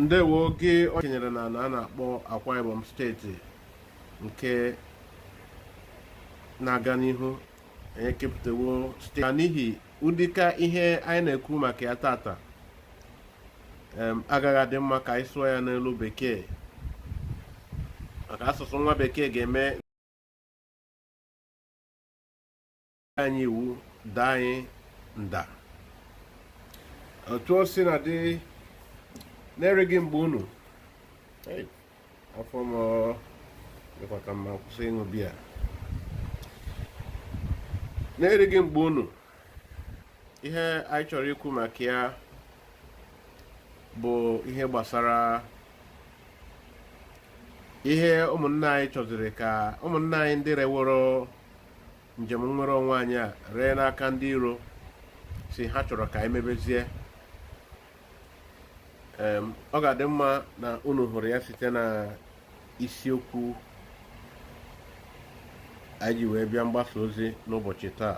ndewo oge ọ kenyere na a na-akpọ Akwa Ibom steeti nke na-aga n'ihu anyị ekepụtawo site na n'ihi ụdịka ihe anyị na-ekwu maka ya tata agaghị adị mma ka anyị sụọ ya n'olu bekee maka asụsụ nwa bekee ga-eme anyị iwu daa anyị nda otu o si na dị na-erighị mgbe unu afọ m dịkwa ka mma kwụsị ịṅụ biya na-erighị mgbe unu ihe anyị chọrọ ikwu maka ya bụ ihe gbasara ihe ụmụnna anyị chọziri ka ụmụnna anyị ndị reworo njem nnwere onwe anyị a ree n'aka ndị iro sị ha chọrọ ka anyị mebezie ọ ga-adị mma na unu hụrụ ya site na isiokwu anyị ji wee bịa mgbasa ozi n'ụbọchị taa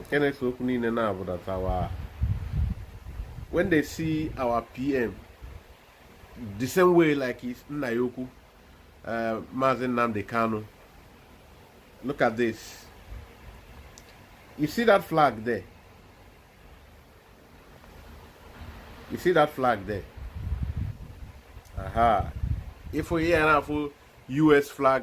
nke na-ese okwu niile na-abụ that our when they see our PM the same way like his nna ya ukwu uh, Maazị Nnamdi Kanu look at this you see that flag there you see that flag there aha ị fụ ihe ya na-afụ US flag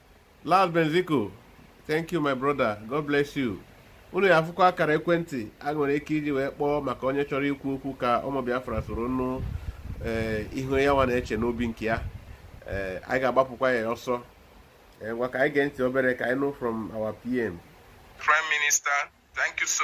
Las Benziko thank you my brother God bless you unu ya-afụkwa akara ekwentị a nwere ike iji wee kpọọ maka onye chọrọ ikwu okwu ka ụmụ Biafra soro nụ eh, ihe ya nwa na-eche n'obi nke ya eh, anyị ga-agbapụkwa ya ọsọ eh, ngwa ka anyị gee ntị obere ka anyị nụ from our PM Prime Minister thank you so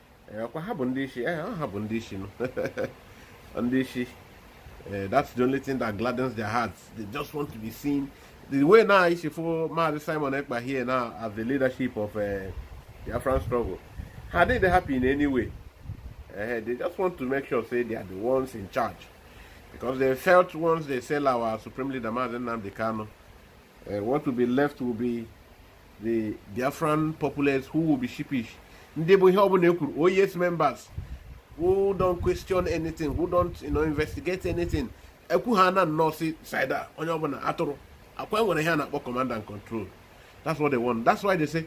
ọkwa ha bụ ndị isi eh, ha bụ ndị isi ndị isi eh, that's the only thing that gladdens their hearts they just want to be seen the way now is for Maazị Simon Ekpa here now as the leadership of uh, eh, the Biafran struggle ha dịghị happy in any way uh, they just want to make sure say they are the ones in charge because they felt once they sell our supreme leader Maazị Nnamdi Kanu uh, what will be left will be the Biafran populace who will be sheepish ndị bụ ihe ọbụla ekwuru oh yes members who don't question anything who don't you know, investigate anything ekwu ha na nnọọ si sida onye ọbụla atụrụ ọkwa e nwere ihe a na-akpọ command and control that's what they want that's why they say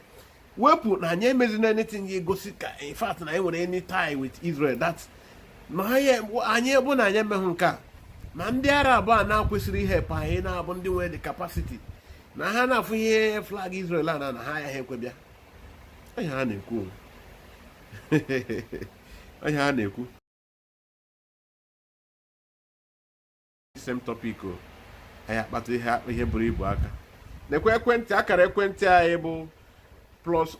wepụ na anyị emezina anything ya-egosi ka in fact na anyị nwere any tie with Israel that na anyị ebe na anyị emeghị nke a na ndị Arab a na-akwesịrị ịhelp anyị na-abụ ndị nwere the capacity na ha na-afụ ihe flag Israel a na na ha yaha ekwe bịa ọ ihe ha na-ekwu ọ ihe ha na-ekwu same topic o anyị ya-akpata ihe buru ibu aka nekwe ekwentị akara ekwentị anyị bụ plus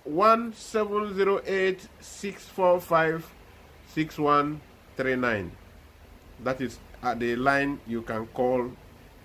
17086456139 that is the line you can call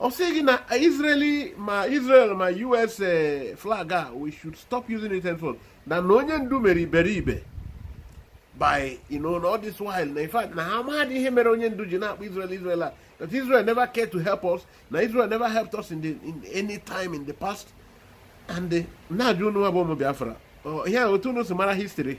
ọ sị gị na Israeli ma Israel ma US eh, flag a we should stop using it henceforth na na onye ndu mere iberibe by you know all this while na in fact na ha amaghị ihe mere onye ndu ji na-akpọ Israel Israel a that Israel never cared to help us na Israel never helped us in, the, in any time in the past and eh, na-ajụ unu nwa bụ ụmụ Biafra ihe a otu unu si mara history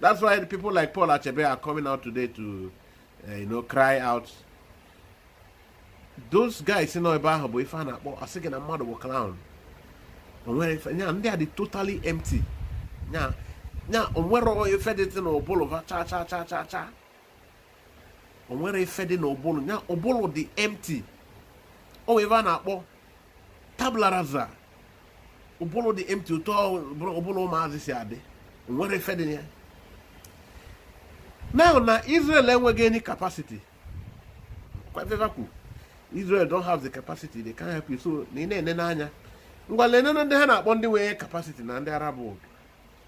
That's why the people like Paul Achebe are coming out today to, uh, you know, cry out. Those guys nọ ebe ahụ bụ ife a na-akpọ a sị gị na mmadụ bụ clown. O nwerọ ife nya ndị a dị totally empty. Nya nya o nwerọ ife dị n'ụbụlụ fa cha cha cha cha cha. o nwerọ ife dị na ụbụlụ ya ụbụlụ dị empty o nwere ife a na-akpọ tabula rasa ụbụlụ dị empty otu ụbụlụ ụmụazị si adị o nwerọ ife dị na ya now na Israel enweghị any capacity kwa ife fa kwu Israel don't have the capacity they can't help you so na ị na-ene n'anya ngwa lenene ndị ha na-akpọ ndị nwere capacity na ndị Arab world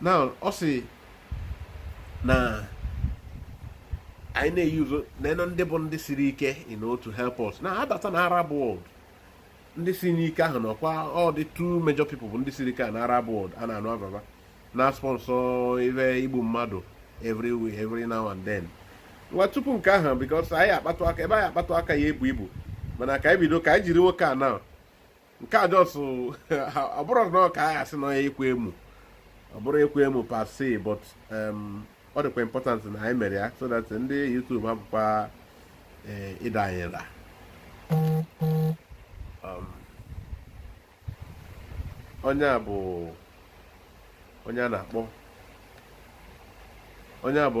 now ọ sị na anyị na-eyuzo na you know ndị bụ ndị siri ike enough to help us na a bata na arab world ndị siri ike ahụ na ọkwa ọ dị two major people bụ ndị siri ike na arab world a na-anụ afa fa na sponsor ife igbu mmadụ every week every now and then ngwa tupu nke ahụ because anyị akpatụ aka ebe anyị akpatụ aka ya-ebu ibu mana ka anyị bido ka anyị jiri nwoke a na nke a just ọ bụrụ na ọ ka a asị na onye ịkwa emu ọ bụrọ ịkwa emu per se but um, ọ dịkwa important na anyị mere ya so that ndị YouTube hapụkwa eh, ịda anyị nra um, onye a bụ onye a na-akpọ onye a bụ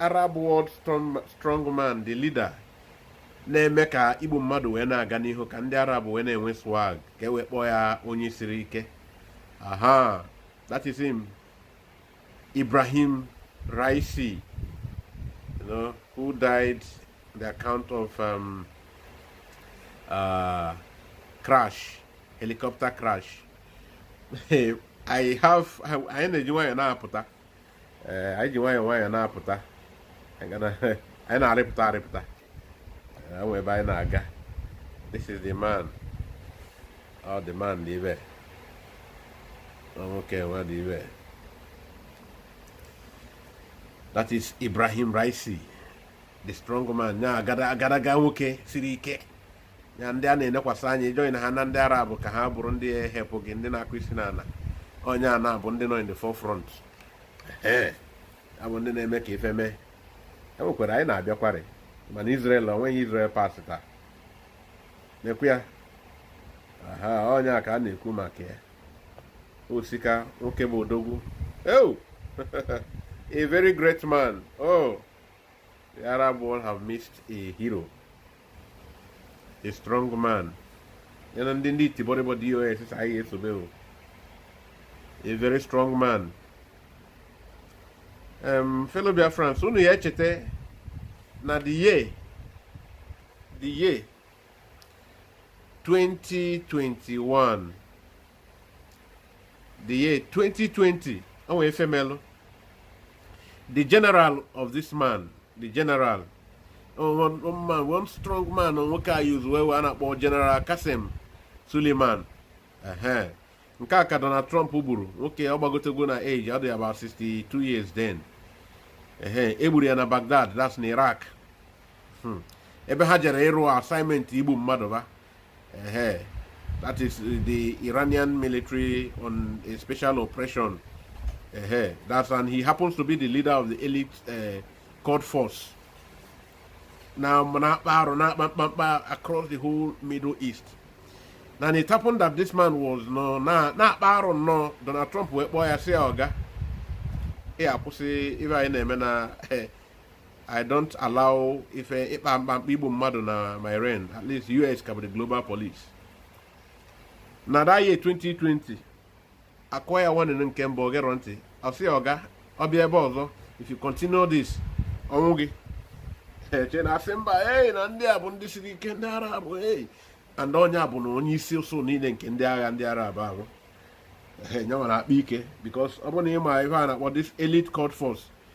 Arab World Strongman the leader na-eme ka igbu mmadụ wee na-aga n'ihu ka ndị Arab wee na-enwe swag ka e wee kpọọ ya onye siri ike aha that is him Ibrahim Raisi you know, who died the account of um, uh, crash helicopter crash ihe anyị na-eji nwayọọ na-apụta ee anyị ji nwayọọ nwayọọ na-apụta anyị na-arịpụta arịpụta e nwe ebe anyị na-aga this is the man oh the man dị ibe nwoke nwa dị ibe that is Ibrahim Raisi the strong man na agadaga nwoke siri ike ya ndị a na-enekwasị anya join ha na ndị arab ka ha bụrụ ndị help gị ndị na-akụ isi n'ala onye a na-abụ ndị nọ in the forefront abụ ndị na-eme ka ife mee e nwekwara anyị na-abịakwarị mana Israel onweghị Israel pati taa na-ekwu ya aha onye a ka a na-ekwu maka ya o sika nwoke bụ odogwu oh a very great man oh the Arab world have missed a hero a strong man ya na ndị ndị itibọrịbọ DOS sị anyị esobe o a very strong man um, fellow Biafrans unu ya-echeta na the year the year 2021 the year 2020 o nwere ife melụ the general of this man the general one, one man one strong man nwoke a yuzu wee a na-akpọ general Qasem Suleiman ehe nke a ka Donald Trump gburu nwoke ọ gbagotego na age ọ dị about 62 years then ehe e gburu ya na Baghdad that's na Iraq hmm. ebe ha jere ịrụ assignment igbu mmadụ ba Uh, that is the Iranian military on a special operation. Uh, that's and he happens to be the leader of the elite uh, Quds Force. nọ na-akpa ike across the whole Middle East. Now, it happened that this man was no, na na no Donald Trump wee kpọọ ya sị ya oga ị akwụsị ife a ị na-eme na eh, I don't allow ife ịkpa mkpamkpa igbu mmadụ na my reign at least US ka bụ the global police na that year 2020 akụọ ya warning nke mbụ o gerọ ntị ọ sị oga ọ bịa ebe ọzọ if you continue this ọnwụ gị eche na a sị mba ei na ndị a bụ ndị siri ike ndị Arab ei and onye a bụ na onye isi usuu niile nke ndị agha ndị Arab ahụ enye nwere akpa ike because ọ bụrụ na ị ma ife a na-akpọ this elite Quds Force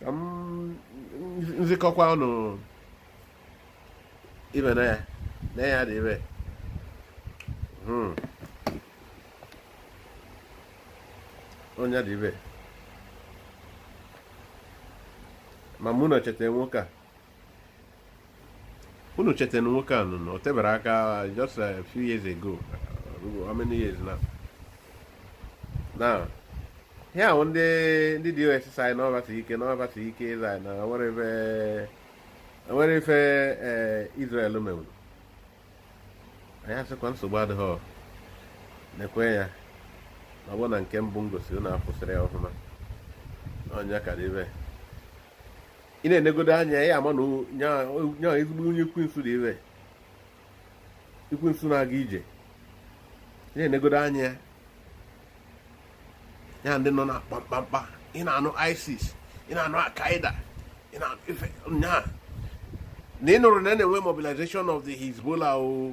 ka m nzikọkwa unu ive na ya na ya dị evil hmm. onye dị evil ma mụ na-echeta nwoke a unu cheta na nwoke a nọ na o teberọ aka just a few years ago uh, how many years now now ihe ahụ ndị ndị DOS sị anyị na ọbata ike na ọbata ike ịza anyị na nwere ife nwere ife ee Israel mewuru anyị a sịkwa nsogbu adịghị nekwe ya na ọ bụrụ na nke mbụ m gosiri na afụsịrị ya ọfụma onye ka dị evil ị na-enegodo anya ya ama na nya ezigbo onye ekwensu dị evil ekwensu na-aga ije ị na-enegodo anya ya ndị nọ na kpamkpamkpa ị na-anụ isis ị na-anụ al-qaeda ị na-anụ ife nyaa na ị nụrụ na a na-enwe mobilization of the hezbollah o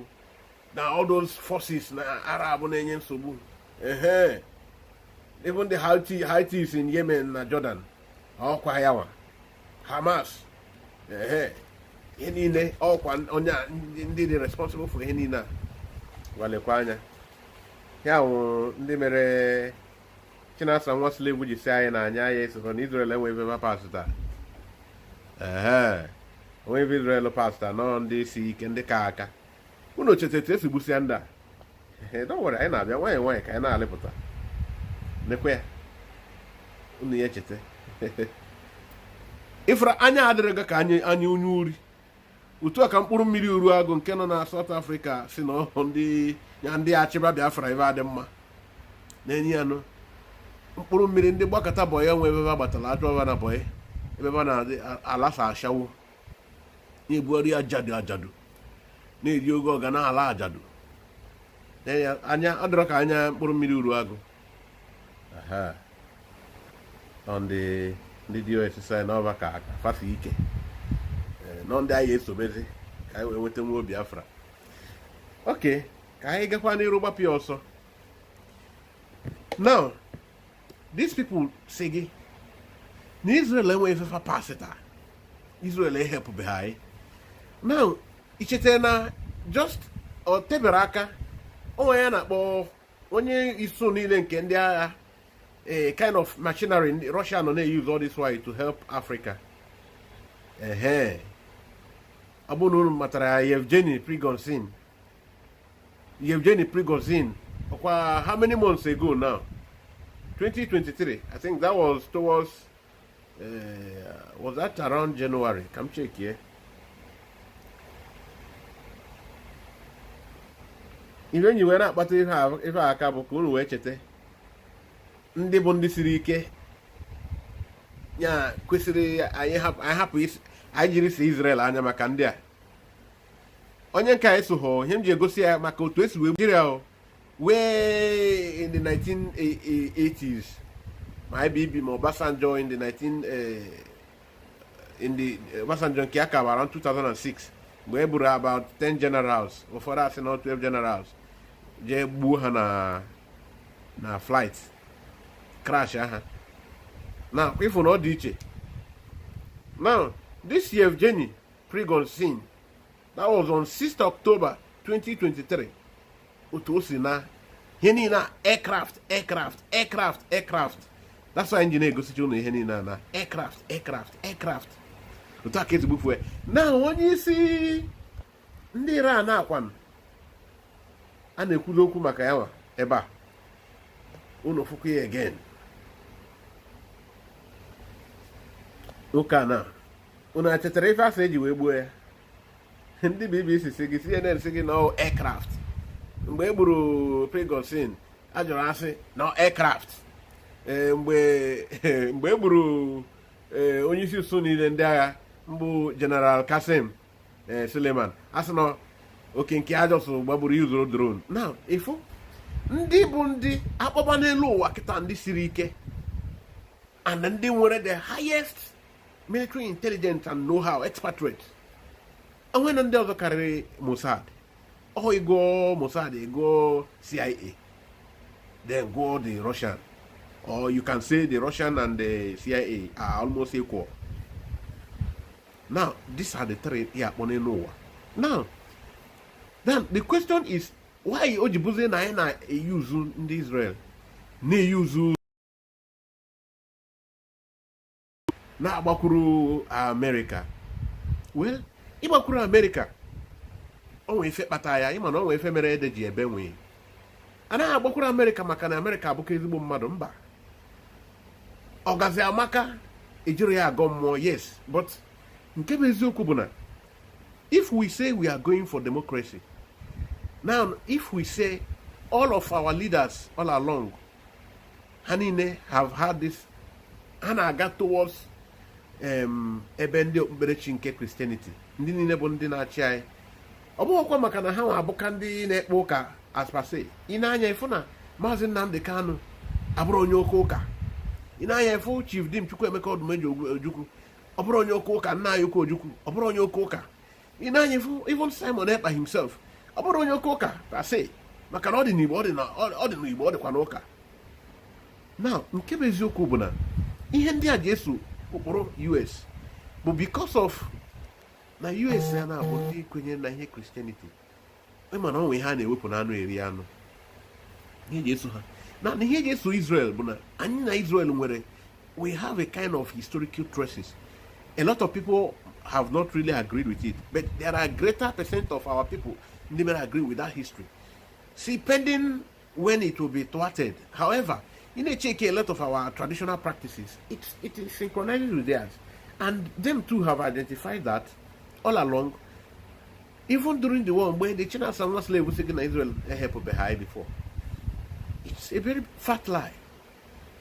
na all those forces na arab na-enye nsogbu ehe even the houthis in yemen na jordan ọkwa ya nwa hamas ehe ihe niile ọkwa onye ndị dị responsible for ihe niile a ngwa lekwa anya ya wụ ndị mere chinasa nwa slave ji sị anyị na anya ya esokọ na Israel enwe ive va pasịta ee onwe ive Israel pasịta n'ọ ndị si ike ndị ka aka unu cheta etu esi gbusịa ndị a dọwere anyị na-abịa nwanyị nwanyị ka anyị na-alịpụta nekwe ya unu ya echeta ịfụra anya adịrị gị ka anya onye ori otu a ka mkpụrụ mmiri Uruagụ nke nọ na South Africa sị na ọ bụ ndị ya ndị achịba Biafra ive adị mma na-enye ya nụ mkpụrụ mmiri ndị gbakọta bọyị enwe ebe ba gbatara achụọ ba na bọyị ebe ba na-alasa ashawo na-ebugharị ajadu ajadu na-eri ego ọga na-ala ajadu anya ọ dịrọ ka anya mkpụrụ mmiri Uruagụ ndị ndị DOS sị n'ọ ba ka fa si ike eh, n'ọ ndị anyị ya-esobezi ka anyị wee nweta nwa Biafra okay ka anyị gakwa n'iru gbapịa ọsọ now these people sị gị na Israel enweghị ife fa pasịta Israel ehelpụbeghị anyị now icheta na just o teberọ aka onye a na-akpọ onye isi niile nke ndị agha a kind of machinery Russia nọ na-use all this while to help Africa ehe ọ bụrụ na unu matara ya Yevgeny Prigozhin Yevgeny Prigozhin ọkwa how many months ago now 2023 I think that was towards uh, was that around January ka m check here ihe anyị wee na-akpata ife aka bụ ka unu wee cheta ndị bụ ndị siri ike ya kwesịrị anyị hapụ anyị jiri si Israel anya maka ndị a onye nke a esoghọ ihe m ji egosi ya maka otu esi wee Nigeria o wee in the 1980s ma IBB ma Obasanjo in the 19 eh, in the eh, Obasanjo nke ya ka around 2006 mgbe e gburu about 10 generals ụfọdụ asị na 12 generals jee gbuo ha na na flight crash aha now ị fụ na ọ dị iche now this Yevgeny Prigozhin that was on 6th October 2023 otu o si na ihe niile a aircraft aircraft aircraft aircraft that's why m ji egosicha unu ihe niile a na aircraft aircraft aircraft otu a ka e si gbufue na onye isi ndị Iran a kwanụ a na-ekwuzi okwu maka ya nwa ebe a unu fụkwa ya again nwoke a na unu achetara ife a sị e ji wee gbuo ya ndị bbc si gị cnn si gị na aircraft mgbe e gburu Prigozhin a jụrụ a sị na aircraft e, mgbe e gburu e, onye isi usuu niile ndị agha mbụ General Qasim Suleiman a sị na okay nke a just gbagburu yuzuru drone now ị fụ ndị bụ ndị akpọba n'elu ụwa kịta ndị siri ike and ndị nwere the highest military intelligence and know-how expatriate o nwere ndị ọzọ karịrị Mossad ọ ị gụọ Mossad ị gụọ CIA then gụọ the Russian or you can say the Russian and the CIA are almost equal now these are the three ya akpọ n'elu ụwa now then the question is why o ji bụzie na anyị na-eyuzu ndị Israel na-eyuzu na-agbakwuru amerịka well ịgbakwuru amerịka o nwee ife kpata ya ị ma na o nwee ife mere ede ji ebe nwii a naghị agbakwuru amerịka maka na amerịka abụka ezigbo mmadụ mba ọgazi amaka ejirọ ya agọ mmụọ yes but nke bụ eziokwu bụ na if we say we are going for democracy now if we say all of our leaders all along ha niile have had this ha na-aga towards um, ebe ndị okpukperechi nke Christianity ndị niile bụ ndị na-achị anyị ọ bụghịkwa maka na ha nwa abụka ndị na-ekpe ụka as per se ị na-anya ịfụ na maazị Nnamdi Kanu abụrụ onye oke ụka ị na-anya ịfụ Chief Dim Chukwuemeka Odumegwu Ojukwu ọ bụrụ onye oke ụka nna anyị ukwu Ojukwu ọ bụrụ onye oke ụka ị na-anya even Simon Ekpa himself ọ bụrụ onye oke ụka per se maka na ọ dị n'Igbo ọ dị n'Igbo ọ dịkwa n'ụka now nke bụ eziokwu bụ na ihe ndị a ji eso ụkpụrụ US bụ because of na US ya na-abụ ndị kwenyere na ihe Christianity ị ma na o nwe ihe a na-ewepụ n'anụ eri anụ ihe eji eso ha na ihe eji eso Israel bụ na anyị na Israel nwere we have a kind of historical traces a lot of people have not really agreed with it but there are greater percent of our people ndị mere agree with that history see pending when it will be thwarted however ị na-echeke a lot of our traditional practices it, it is synchronized with theirs and them too have identified that all along even during the war mgbe the Chinasa nwa slave sị gị na Israel ehelpubeghị anyị before it's a very fat lie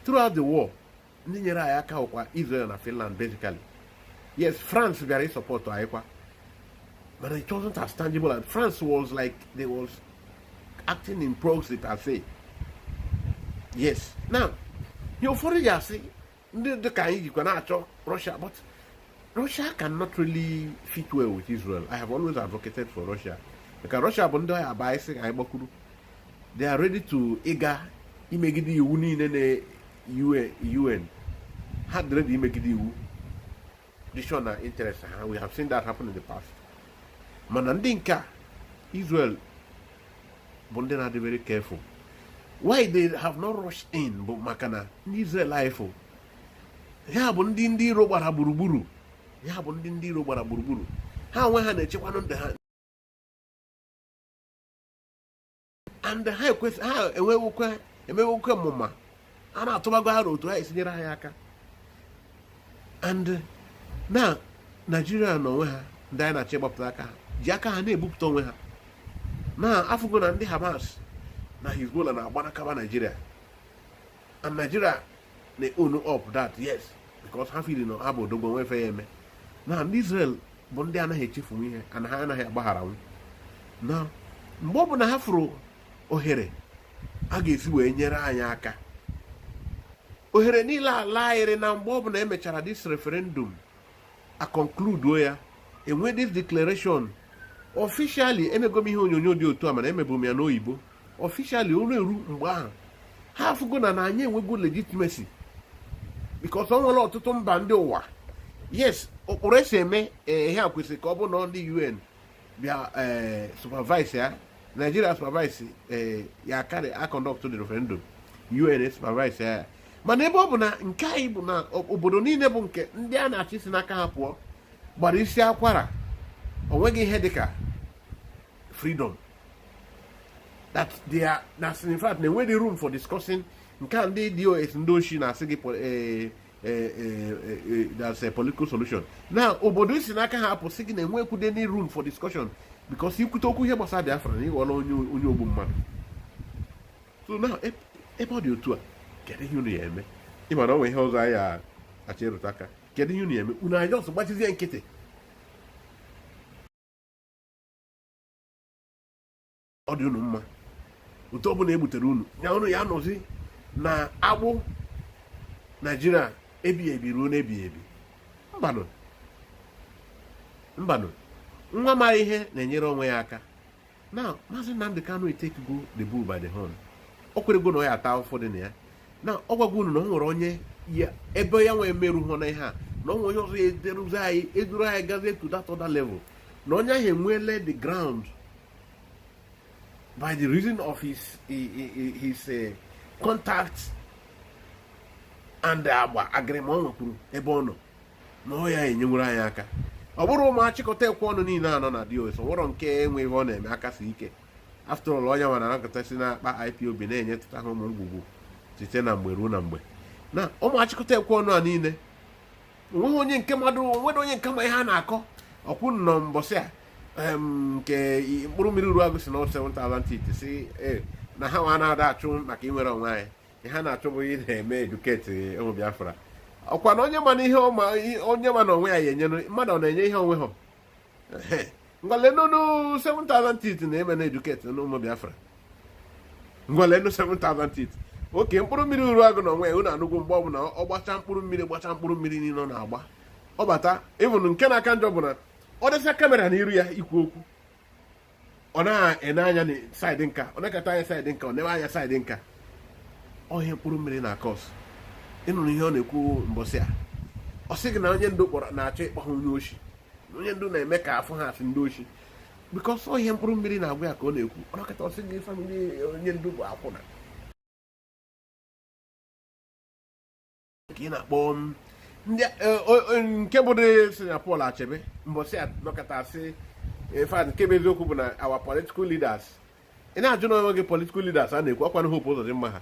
throughout the war ndị nyere anyị aka bụkwa Israel na Finland basically yes France bịara ịsupport anyị kwa but it wasn't as tangible and France was like they was acting in proxy per se yes now ihe ụfọdụ ji asị ndị dị ka anyị jikwa na-achọ Russia but Russia cannot really fit well with Israel I have always advocated for Russia maka Russia bụ ndị ọ ya-abụ anyị sị ka anyị gbakwuru they are ready to ịga imegide iwu niile na UN ha dị ready imegide iwu dishon na interest ha we have seen that happen in the past mana ndị nke a Israel bụ ndị na-adị very careful why they have not rushed in bụ maka na ndị Israel ị fụ ya bụ ndị ndị iro gbara gburugburu ya bụ ndị ndị iro gbara gburugburu ha onwe ha na-echekwanụ ndụ ha and ha ekwesị ha enwewukwa emewukwa mụ ma ha na-atụbago aro otu ha esi nyere anyị aka and na naijiria na onwe ha ndị anyị na-achọ ịgbapụta aka ha ji aka ha na-ebupụta onwe ha na afụgo na ndị hamas na hezbollah na-agbanakaba naijiria and Nigeria na own up that yes because ha feel na ha bụ odogwu nwe ife ya eme na ndị Israel bụ ndị anaghị echefunwu ihe and ha anaghị agbagharanwu na mgbe ọ bụla ha fụrụ ohere a ga-esi wee nyere anyị aka ohere niile ala ayịrị na mgbe ọ bụla emechara this referendum akọnkluduo ya e nwee this declaration officially emego m ihe onyonyo dị otu a mana emebu m ya n'oyibo officially oru eru mgbe ahụ ha afụgo na na anyị enwego legitimacy because o nwere ọtụtụ mba ndị ụwa yes ụkpụrụ e si eme eh, ihe a kwesịrị ka ọ bụ na ndị UN bịa eh, supervise ya Nigeria supervise eh, ya karị a conductuo the referendum UN supervise ya mana ebe ọ bụ na nke anyị bụ na obodo niile bụ nke ndị a na-achọ isi n'aka ha pụọ gbara isi akwara o nweghị ihe dịka freedom that they are that's in fact na enweghị room for discussing nke a ndị DOS ndị oshi na-asị gị eh, eh, eh, eh, that's a political solution na obodo i si n'aka ha apụ sị gị na enwekwude any room for discussion because i kwute okwu ihe gbasara Biafra na ị ghọla onye ogbu mmadụ so now ebe ọ dị otu a kedu ihe unu ya eme ị mara o nwe ihe ọzọ anyị achọ ịrụta aka kedu ihe unu ya eme unu a ya just gbachizie nkịtị ọ dị unu mma otu ọbụla e butere unu ya unu ya nọzi na agbụ Nigeria ebighị ebi ruo n'ebighị ebi mbanụ mbanụ nwa ma ihe na-enyere onwe ya aka na maazị Nnamdi Kanu etekigo the bull by the horn o kwerego na ọ ya ata afụfụ dị na ya na ọ gwago unu na o nwere onye ebe ya nwee meru hụ na ihe a na o nwere onye ọzọ ya eduruzi anyị eduru anyị gazie to that other level na onye ahụ enweele the ground by the reason of his his uh, contact and agba agreement o nwekwuru ebe ọ nọ na ọ ya enyenwere anyị aka ọ bụrụ ụmụ achịkọta ekwe ọnụ niile a nọ na DOS o nwerọ nke nwe ihe ọ na-eme aka si ike after all onye nwara anọkata si n'akpa IPOB na-enyetụta ha ụmụ ngwugwu site na mgbe ruo na mgbe na ụmụ achịkọta ekwe ọnụ a niile o nweghị onye nke mmadụ o nwere onye nke ma ihe a na-akọ ọkwụ nọ mbọsị a nke mkpụrụ mmiri Uruagụ sị na 7000 teeth sị e, na ha nwa na-ada achụ maka inwere onwe anyị ihe ha na-achụ bụ ịna-eme educate ụmụ Biafra ọ kwa na onye ma na ihe onye ma na onwe ya enyere mmadụ ọ na-enye ihe o nwehọ ngwa leenụ nụ 7000 teeth na-eme na educate n'ụmụ Biafra ngwa leenụ 7000 teeth oke mkpụrụ mmiri Uruagụ na onwe ya unu anụgwu mgbe ọbụla ọ gbacha mkpụrụ mmiri gbacha mkpụrụ mmiri niile ọ na-agba ọ bata even nke na-aka njọ bụ na ọ dọsa camera na iru ya ikwu okwu ọ na-ene anya na side nka o nekata anya side nka o newe anya side nka ọ ihe mkpụrụ mmiri na-acause ị nụrụ ihe ọ na-ekwu mbọsị a ọ sị gị na onye ndu kpọrọ na-achọ ịkpọ ha onye oshi na onye ndu na-eme ka a fụ ha a sị ndị oshi because ọ ihe mkpụrụ mmiri na-agwa ya ka ọ na-ekwu ọ nọkata ọ sị gị family onye ndu bụ akwụna ka ị na-akpọ m ndị eh, o- o- nke bụ dị si na Paul Achebe mbọsị a nọkọta sị in fact nke bụ eziokwu bụ na our political leaders ị na-ajụ n'onwe gị political leaders a na-ekwu ọkwanụ Hope Uzodimma ha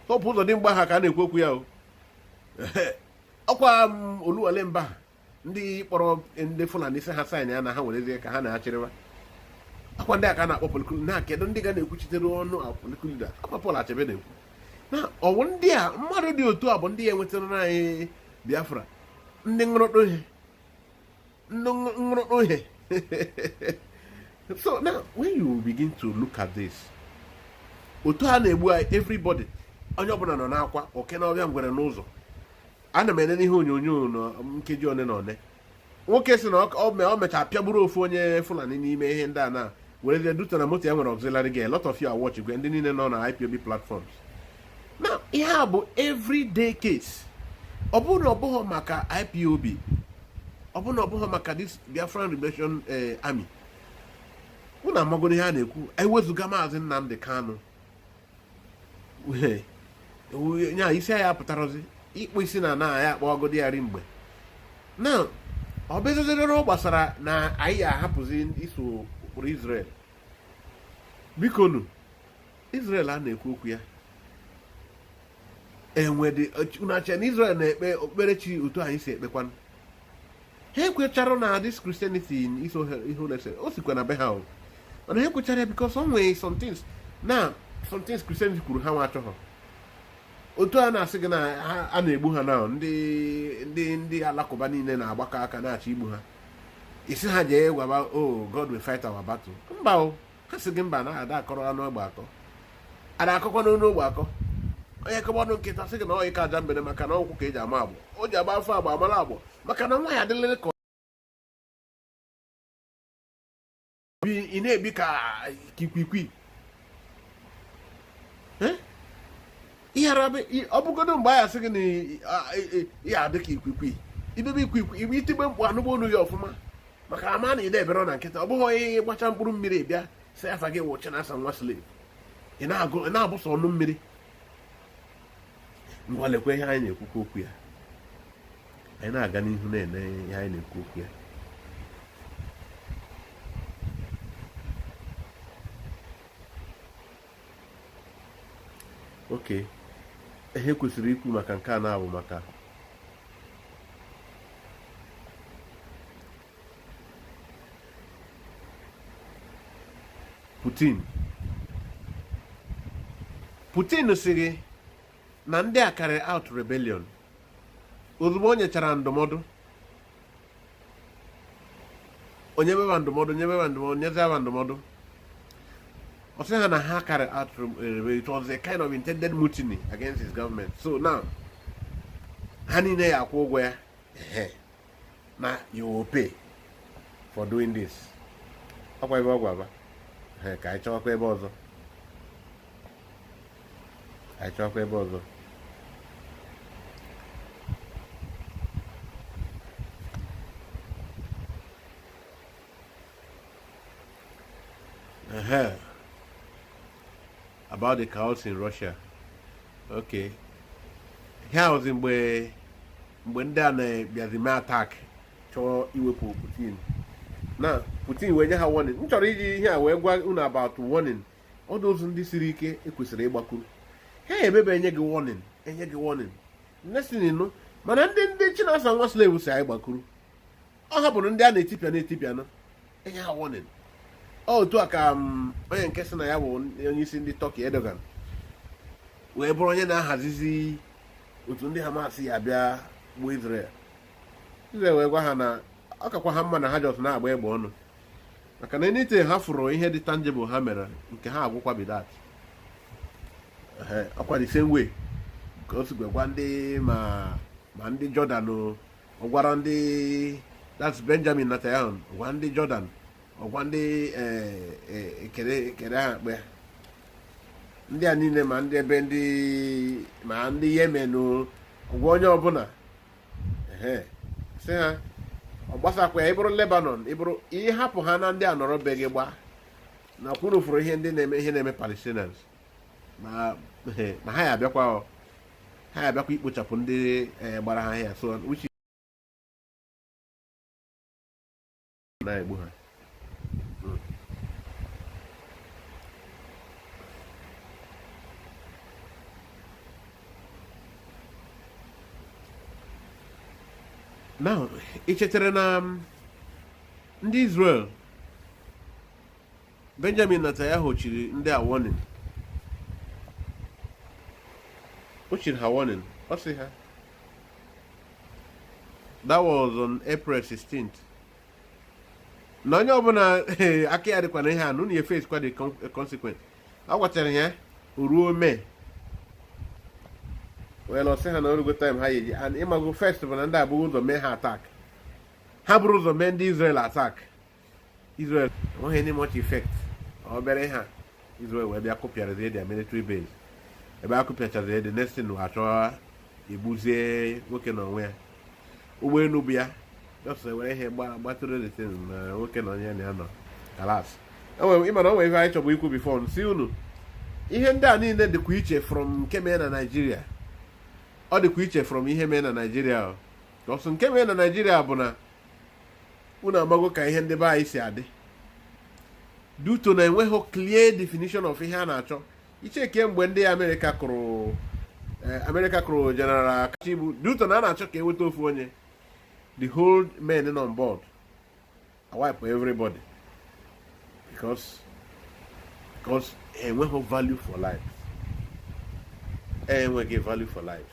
Hope Uzodimma ha ka a na-ekwu okwu ya o ọkwa Oluwale Mba ha ndị kpọrọ ndị Fulani sị ha sign ya na ha werezie ka ha na-achịrịwa ọkwa ndị a ka a na-akpọ political na kedu ndị ga na-ekwuchitere ọnụ political ọkwa Paul Achebe na-ekwu na ọwụ ndị a mmadụ dị otu a bụ ndị ya-enwetara anyị Biafra ndị nrụrụ ihe ndị nrụrụ ihe so now when you begin to look at this otu a na-egbu anyị everybody onye ọbụla nọ n'akwa oke n'ọfịa ngwere n'ụzọ ana m ele n'ihe onyonyo na nkeji one na one nwoke sị na o mecha pịagburu ofu onye Fulani n'ime ihe ndị a na were je duta na moto ya nwere auxiliary gear a lot of you are watching gwe ndị niile nọ na IPOB platforms na ihe a bụ everyday case ọ bụrụ na ọ bụghị maka IPOB ọ bụrụ na ọ bụghị maka this Biafran Liberation eh, Army unu amagoro ihe a na-ekwu ewezụga maazị Nnamdi Kanu nya isi ya pụtarozi ịkpụ isi na na ya akpọgodi ya ri mgbe na ọ bụzịzịrị ọ gbasara na anyị ahapụzi iso ụkpụrụ Israel biko nu Israel a na-ekwu okwu ya enwedị unu na-eche na Israel na-ekpe okpukperechi otu anyị si ekpekwanụ ha ekwecharọ na this Christianity iso ihe ụlọ ese o sikwa na be ha o mana ha ekwecharọ ya because o nwere some things na some things Christianity kwuru ha nwa achọghọ otu a na-asị gị na a na-egbu ha na ndị ndị ndị alakụba niile na-agbakọ aka na-achọ igbu ha ị sị ha jee gwaba o oh, God will fight our battle mba o ha sị gị mba na ada akọrọ anụ ogbe akọ ada akọkwa n'ọnụ ogbe akọ onye kọba ọnụ nkịta sị gị na ọyị ka aja mbere maka na ọkwụ ka e ji ama agbụ o ji agba afọ agba amara agbụ maka na nwa ya adịlele ka ị na-ebe ka ikwikwi ọ bụgodo mgbe ya sị gị na ya adị ka ikwikwi ibebe ikwikwi ibe itigbe mkpu anụgbọ olu ya ọfụma maka ama na ide ebere na nkịta ọ bụghị onye gbacha mkpụrụ mmiri bịa sị afa gị wụ Chinasa nwa slave ị na-abụsa ọnụ mmiri ngwa lekwa ihe anyị na-ekwukwa okwu ya anyị na-aga n'ihu na-ele ihe anyị na-ekwu okwu ya okay ihe kwesịrị ikwu maka nke a na-abụ maka Putin Putin sịrị na ndị a carry out rebellion ozugbo o nyechara ndụmọdụ o nyebeba ndụmọdụ nyebeba ndụmọdụ nyezeba ndụmọdụ ọ sị ha na ha carry out eh, it was a kind of intended mutiny against his government so now ha niile ya akwụ ụgwọ ya na you will pay for doing this ọkwa ebe ọ gwaba ka anyị chọwakwa ebe ọzọ anyị chọkwa ebe ọzọ Uh-huh. About the chaos in Russia. Okay. Here was in where mgbe ndị a na-abịazi mee attack chọọ iwepụ Putin na Putin wee nye ha warning m chọrọ iji ihe a wee gwa unu about warning all those ndị siri ike e kwesịrị ịgbakwuru ha emebe enye gị warning enye gị warning next thing you know mana ndị ndị Chinasa nwa slave sị anyị gbakwuru ọ ha bụrụ ndị a na-etipịa na-etipịa na enye ha warning otu a ka mm, onye nke sị na ya bụ onye isi ndị Turkey Erdogan wee bụrụ onye na-ahazizi otu ndị Hamas ya abịa gbuo Israel Israel wee gwa ha na ọ kakwa ha mma na ha just na-agba egbe ọnụ maka na anytime ha fụrụ ihe dị tangible ha mere nke ha agwụkwa be that ọkwa the same way ka o si wee gwa ndị ma ma ndị Jordan ọ gwara ndị that's Benjamin Netanyahu gwa ndị Jordan ọ gwa ndị ekere eh, eh, ekere ha mkpe ndị a niile ma ndị ebe ndị ma ndị Yemen gwa onye ọbụla sị ha ọ gbasakwa ya ị bụrụ Lebanon ị bụrụ ị hapụ ha na ndị a nọrọ be gị gbaa na ọkwa unu fụrụ ihe ndị na-eme ihe na-eme Palestinians na ha ya abịakwa ha ya abịakwa ikpochapụ ndị eh, gbara ha ahịa so na-egbu ha now ị chetara na um, ndị Israel Benjamin Netanyahu chiri ndị a warning o chiri ha warning ọ sị ha that was on April 16th na onye ọbụla aka ya dịkwa na ihe a na unu ya face kwa the consequence a gwachara ya ruo May wee na-asị ha na o rugo time ha ya-eji and ịmago first bụ na ndị a bu ụzọ mee ha attack ha buru ụzọ mee ndị Israel attack Israel enweghị any much effect obere ha Israel wee bịa kụpịarazie their military base ebe a kụpịachazie the next thing a chọọ igbuzi nwoke na onwe ya ụgbọelu bu ya just were ihe gbatuo the thing na nwoke na onye na ya nọ kalas ịma na o nwere ihe anyị chọbu ikwu before sị unu ihe ndị a niile dịkwa iche from nke mee na Nigeria ọ dịkwa iche from ihe mee na Nigeria so nke mee na Nigeria bụ na unu amago ka ihe ndị be anyị si adị due to na enweghị clear definition of ihe a na-achọ i checkie mgbe ndị America kụrụ eh, America kụrụ General Kachibu due to na a na-achọ ka e nweta ofu onye the whole men nọ on board a wipe everybody because because enweghị value for life enweghị value for life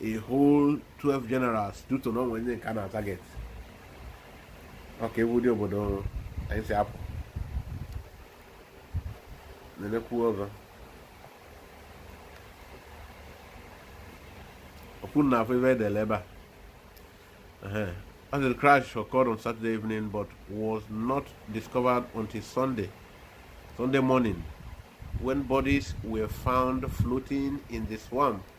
a whole 12 generals due to na o nwe ndị nke a na-atarget okay ọ wụ ụdị obodo ọrụ anyị si apụ nenekwu ọgọ ọkwa unu na-afụ ihe e dele ebe a As the crash occurred on Saturday evening but was not discovered until Sunday, Sunday morning, when bodies were found floating in the swamp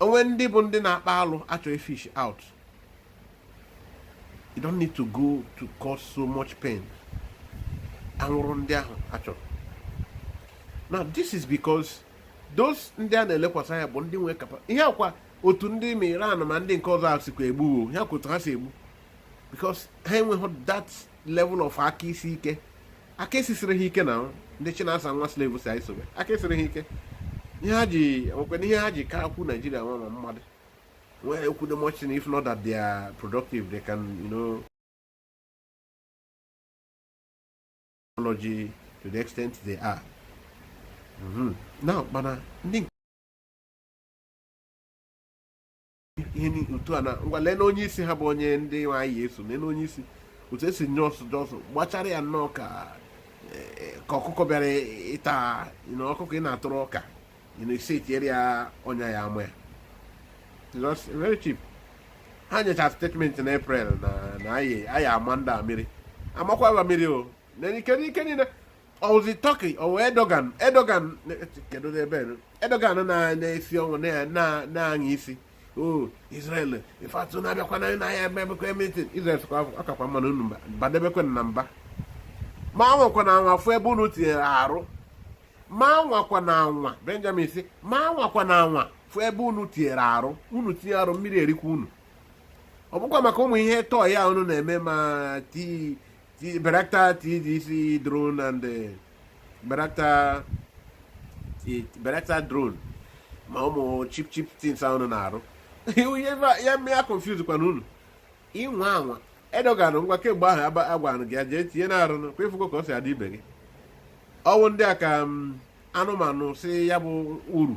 o nwere ndị bụ ndị na-akpa alụ a chọ ị fish out you don't need to go to cause so much pain a nwụrụ ndị ahụ a chọrọ now this is because those ndị a na-elekwasị anya bụ ndị nwee kapa ihe a kwa otu ndị ma Iran ma ndị nke ọzọ a sikwa egbu ihe a kwa otu ha si egbu because ha enweghị that level of aka isi ike aka sisiri ha ike na ndị China sef nwa slave si anyị sobe aka esiri ha ike ihe ha ji nwekwana ihe ha ji kakwu Nigeria nwa ma mmadụ nwere ekwu the much if not that they are productive they can you know technology to the extent they are mm -hmm. now mana ndị ihe ni- otu a na ngwa lee na onye isi ha bụ onye ndị nwe anyị eso lee na onye isi otu esi nye so just gbachara ya nnọọ ka eh, ka ọkụkọ bịara ịta na ọkụkọ ị na-atụrụ ọka ị na-esi etinyere ya ọnya ya ama ya Just very cheap ha nyecha statement na April na na anyị anyị ama ndị a mmiri amakwa ba mmiri o na ike n'ike niile ọ wụzi Turkey ọ wụ Erdogan Erdogan kedu n'ebe Erdogan na-esi ọnwụ na-aṅa isi o Israel ifeatụ na-abịakwa na ya emebekwa meeting Israel sịkwa ọ kakwa mma unu badebekwa na mba ma anwakwana anwa fụ ebe unu tinyere arụ ma anwakwana anwa Benjamin sị ma anwakwana anwa fụ ebe unu tinyere arụ unu tinye arụ mmiri erikwa unu ọ bụkwa maka ụmụ ihe toy a unu na-eme ma tii Bayraktar TDC drone and uh, Bayraktar Bayraktar drone ma ụmụ cheap cheap things unu na-arụ ya mee ya confuse kwa unu ị nwaa anwa Erdogan ngwa kemgbe ahụ agwanụ gị ya jee tinyenụ arụ kwa ị fụgo ka o si adị ibe gị ọ wụ ndị a ka anụmanụ si ya bụ uru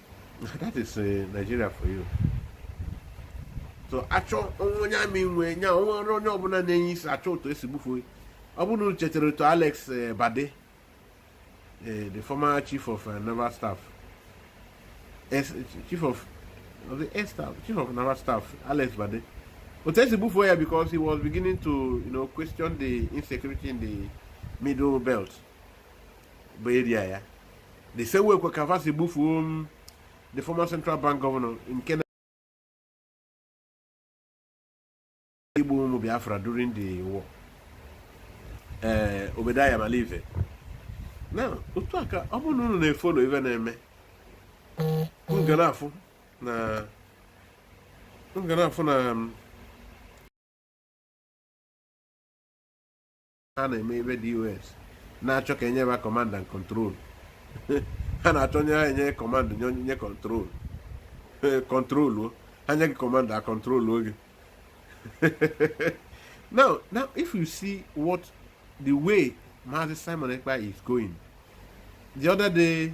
that is uh, Nigeria for you so achọ onye amị nwe nya o nwere onye ọbụla na-enye isi achọ otu e si gbufuo ọ bụrụ unu chetara otu Alex uh, Badeh uh, the former chief of uh, naval staff chief of of the air staff chief of naval staff Alex Badeh otu e si gbufuo ya because he was beginning to you know, question the insecurity in the middle belt bụ area ya the same way kwa ka fa si gbufuo um, the former central bank governor nke na-egbu ụmụ Biafra during the war ee eh, Obadiah Mailafia na otu a ka ọ bụrụ na unu na-efollow ife na-eme unu ga na-afụ na unu ga na-afụ na um, ha na-eme ebe DOS na-achọ ka e nye ha command and control ha na-achọ nye ha enye command nye onye control control ha nye gị command and control oge now now if you see what the way Mazi Simon Ekpa is going the other day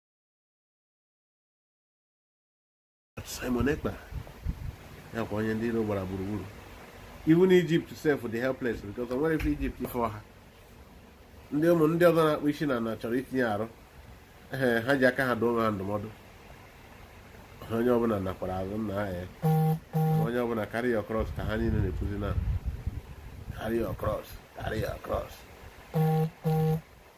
Simon Ekpa ya kwa onye ndị iro gbara gburugburu even Egypt sef dị helpless because o nwere ife Egypt ife ọha ndị ụmụ ndị ọzọ na-akpụ isi na na chọrọ itinye arụ ee ha ji aka ha dụọ onwe ha ndụmọdụ onye ọbụla nakwara azụ nna ha ya onye ọbụla carry your cross ka ha niile na-ekwuzi na carry your cross carry your cross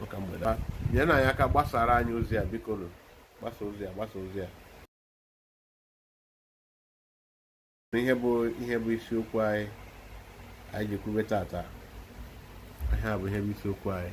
maka mgbede nyenụ anyị aka gbasara anyị ozi a biko nụ gbasa ozi a gbasa ozi a ihe bụ ihe bụ isiokwu anyị anyị ji kwube tata ihe a bụ ihe bụ isiokwu anyị